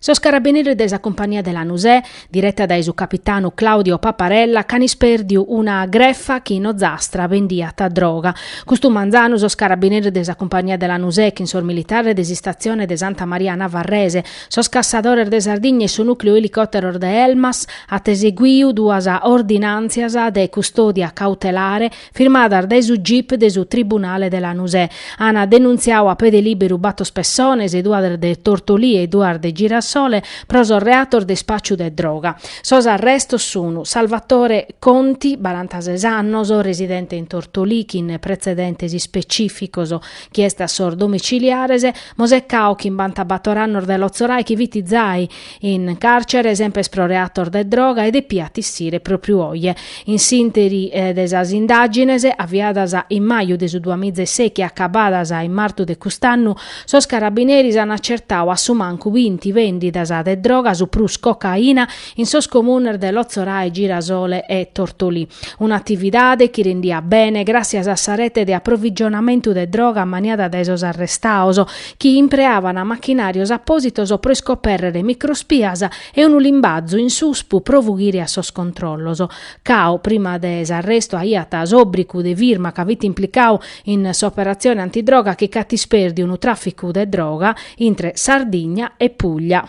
Sos carabineris de sa cumpannia de Lanusè, direta dae su capitanu Claudio Paparella, ch'an ispèrdiu una grefa chi in Ozastra bendiat droga. Custu manzanu sos carabineris de sa cumpannia de Lanusè chin sos militares de s'Istatzione de Santa Maria Navarrese, sos cassadores de Sardigna e su nùcleu elicòteros de Elmas ant eseguiu duas ordinàntzias de custòdia cautelare firmadas dae su gip de su Tribunale de Lanusè. Ana denuntziau a pede lìberu batos pessones, duas de Tortolì e duas de Girasole, pro sos reatos de ispàciu de droga. Sos arrestos sun, Salvatore Conti, barantases annos, residente in Tortolì chin pretzedentes ispecìficos, chi est a sos domiciliares, Mosè Cao chimbantabator annos de Lotzorai chi fit zai, In càrcere semper pro reatos de droga e depiat issire pròpriu oje. In s'ìnteri de sas indàgines, aviadas in maju de su duamizaseichi e acabadas in martu de cust'annu, sos carabineris an acertau a su mancu binti vèndidas de droga, su prus cocaina, in sos comunes de Lotzorae, Girasole e Tortolì. Un'atividade chi rendiat bene gràssias a sa rete de aprovigionamentu de droga maniada dae sos arrestaos, chi impreavana machinarios appositos pro iscopèrrere microspias e unu limbazu in suspu pro fughire a sos controllos. Cao, prima de s'arrestu aiat s'obbricu de firma ca fit implicau in s'operatzione antidroga chi ch'at ispèrdiu unu traficu de droga intre Sardigna e Puglia.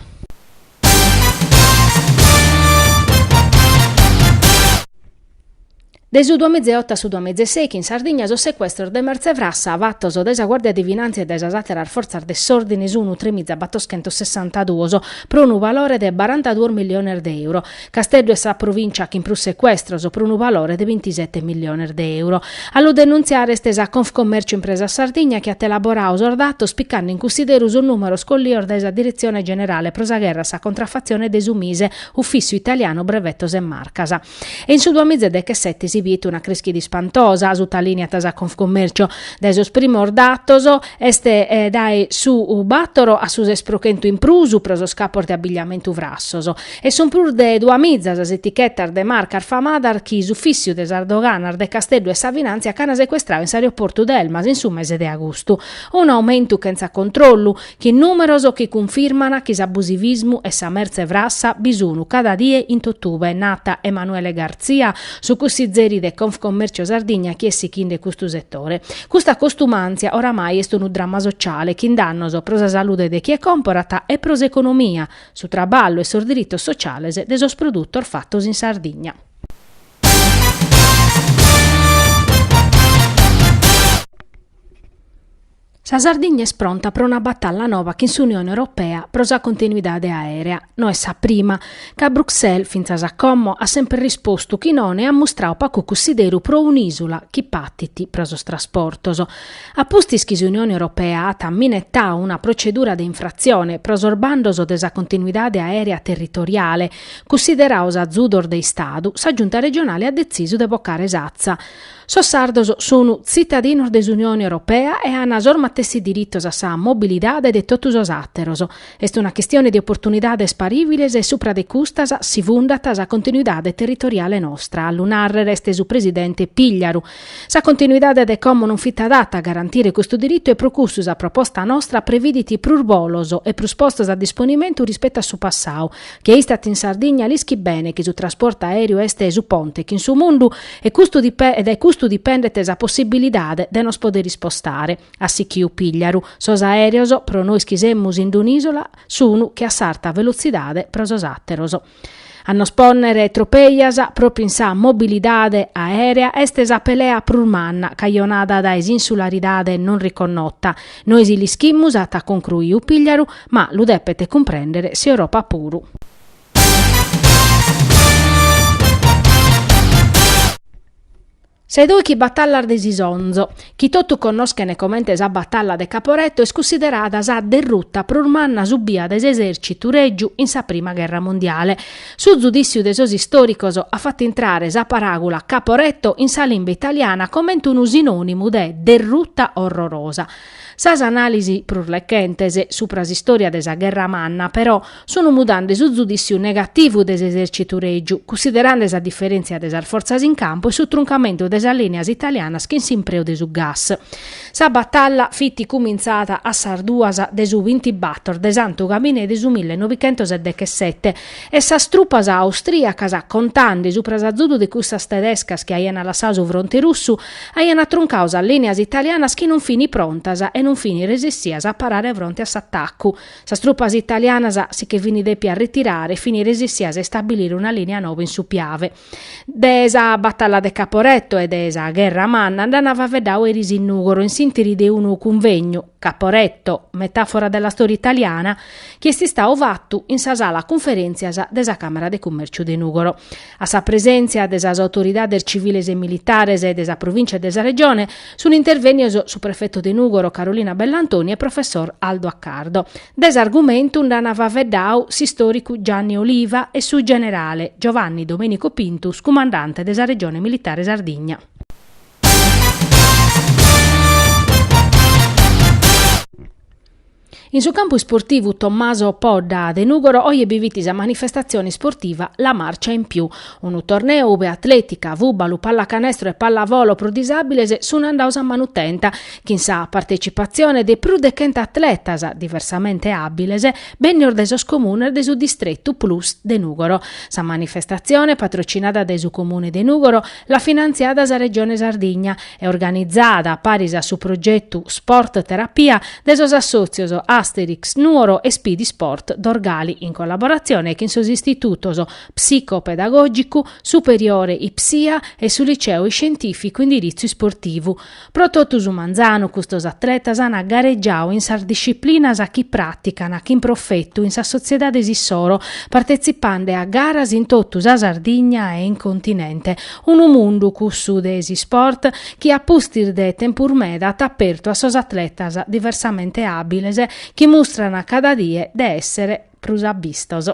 De su duamiza e oto a su duamiza e seichi in Sardigna sos secuestros de mertze frassa fatos dae sa Guàrdia de Finàntzia e dae sas àteras fortzas de s'òrdine sunt tremiza otochentos sessantaduos, pro unu valore de barantaduos milliones de euro. Casteddu est sa provìncia chin prus secuestros, pro unu valore de bintisete milliones de euro. A lu denuntziare est sa Confcommercio Impresa Sardigna chi at elaboradu sos datos picande in cussideru sos nùmeros collidos dae sa Diretzione Generale pro sa Gherra a sa Contraffatzione de su Mise, Ufìssiu Italianu Brevetos e Marcas. e in su duamizedechesete si biet una crèschida ispantosa, sutalìniat sa Confcommercio. Dae sos primos datos, est dae su bàtoro a su ses pro chentu in prus pro sos capos de abigliamentu frassos, e sunt prus de duamiza sas etichetas de marcas famadas chi s'ufìssiu de sas doganas de Casteddu e sa Finàntzia ch'an secuestrau in s'aeroportu de Elmas in su mese de agustu. Un'aumentu chentza controllu, Chin nùmeros chi cunfirman chi s'abusivismu e sa mertze frassa bi sunu cada die in totube, nat Emanuele Garzia, su cussizeri de Confcommercio Sardigna chi est sichinde custu setore. Custa costumàntzia oramai est unu dramma sociale chin dannos pro sa salude de chie comporat e pro s'economia, su traballu e sos diritos sociales de sos produtos fatos in Sardigna. Sa Sardigna est pronta pro una batalla noba chin s'Unione Europea pro sa continuidade aèrea. No est sa prima. Ca Bruxelles, fintzas a como, at semper rispostu chi non e at mustrau pacu cussideru pro un'ìsula chi patit pro sos trasportos. A pustis chi s'Unione Europea at minetau una procedura de infratzione pro sos bandos de sa continuidade aèrea territoriale, cussideraos azudos de Istadu, sa Giunta regionale at detzisu de bocare s'atza. Sos sardos sunu tzitadinos de s'Unione Europea e an sos matessi diritos a sa mobilidade de totu sos àteros. Est una chistione de oportunidades parìviles e supra de custas si fundat sa continuidade territoriale nostra, a lu nàrrere est su presidente Pigliaru. Sa continuidade de como non fit adata a garantire custu diritu e pro cussu sa proposta nostra previdit prus bolos e prus postos a disponimentu rispettu a su passau, Chie istat in Sardigna l'ischit bene chi su trasportu aèreu est su ponte chin su mundu e dae custu dipendet sa possibilidade de nos podere ispostare at sichiu Pigliaru. Sos aereos, pro nois chi semus in un'isola, sunu che a s'arta velotzidade pro sos àteros. A nos pònnere tropejas propriu in sa mobilidade aèrea est sa pelea prus manna cajonada dae s'insularidade non riconnota Nois l'ischimus, at concruiu Pigliaru, ma lu depet cumprèndere s'Europa puru. Sa 'e dòichi batallas de s'Isonzo, chi totu connoschent comente sa batalla de Caporetto, est cussiderada sa derruta prus manna subia dae s'esèrcitu règiu in sa prima gherra mondiale. Su zudìssiu de sos istòricos at fatu intrare sa paràgula Caporetto in sa limba italiana comente unu sinònimu de derruta orrorosa. Sas anàlisis prus rechentes supra s'istòria de sa Gherra Manna, però, sun mudande su zudìssiu negativu de s'esèrcitu règiu, cussiderande sa diferèntzia de sas fortzas in campu e su truncamentu de sas lìnias italianas chin s'impreu de su gas. Sa batalla fit cumintzada a sas duas de su bintibator de Santu Gabine de su mille novichentos e dechesete e sas trupas austrìacas, contande supra s'azudu de cussas tedescas chi aiana lassadu su fronte russu, aiana atruncau sas lìnias italianas chi non fini prontas e non fini resessias a parare fronte a s'atacu. Sas trupas italianas si che fini dèpias retirare fini resessias a istabilire una lìnia noba in su Piave. De sa batalla de Caporetto e de sa gherra manna nd'ana faveddau eris in Nùgoro in s'intiri de unu cunvegnu, Caporetto, metafora della storia italiana, chi est istau fatu in sa sala cunferèntzias de sa Càmara de Cummèrciu de Nùgoro. A sa presèntzia de sas autoridades civiles e militares e de sa provìntzia e de sa Regione, Sunt intervènnidos su prefetu de Nùgoro Carolina Bellantoni e professor Aldo Accardo. De s'argumentu nd'an faveddadu s'istòricu Gianni Oliva e su generale Giovanni Domenico Pintus cumandante de sa Regione Militare Sardigna. In su campu isportivu Tommaso Podda de Nùgoro oje bi fit sa manifestatzione isportiva La Marcia in Più, unu torneu ube atlètica, fùbalu, pallacanestro e pallavolo pro disàbiles sunt andados a manu tenta, chin sa partetzipatzione de prus de chentu atletas diversamente àbiles bènnidos dae sos comunes de su distretu plus de Nùgoro. Sa manifestatzione, patrocinada dae su Comune de Nùgoro, l'at finantziada sa Regione Sardigna, e organizada a paris a su progetu Sport Terapia de sos assòtzios Asterix Nuoro e Speedy Sport Dorgali in collaboratzione chin sos istitutos Psico-Pedagògicu Superiore Ipsia e su Liceo Iscientìficu Indiritzu Isportivu. Pro totu su manzanu custos atletas an garegiadu in sas disciplinas chi pràticana chin profetu in sas sotziedades issoro, partetzipande a garas in totu sa Sardigna e in continente, Unu mundu, cussu de s'isport, chi a pustis de tempus meda at apertu a sos atletas diversamente àbiles chi mustran cada die de èssere prus abistos.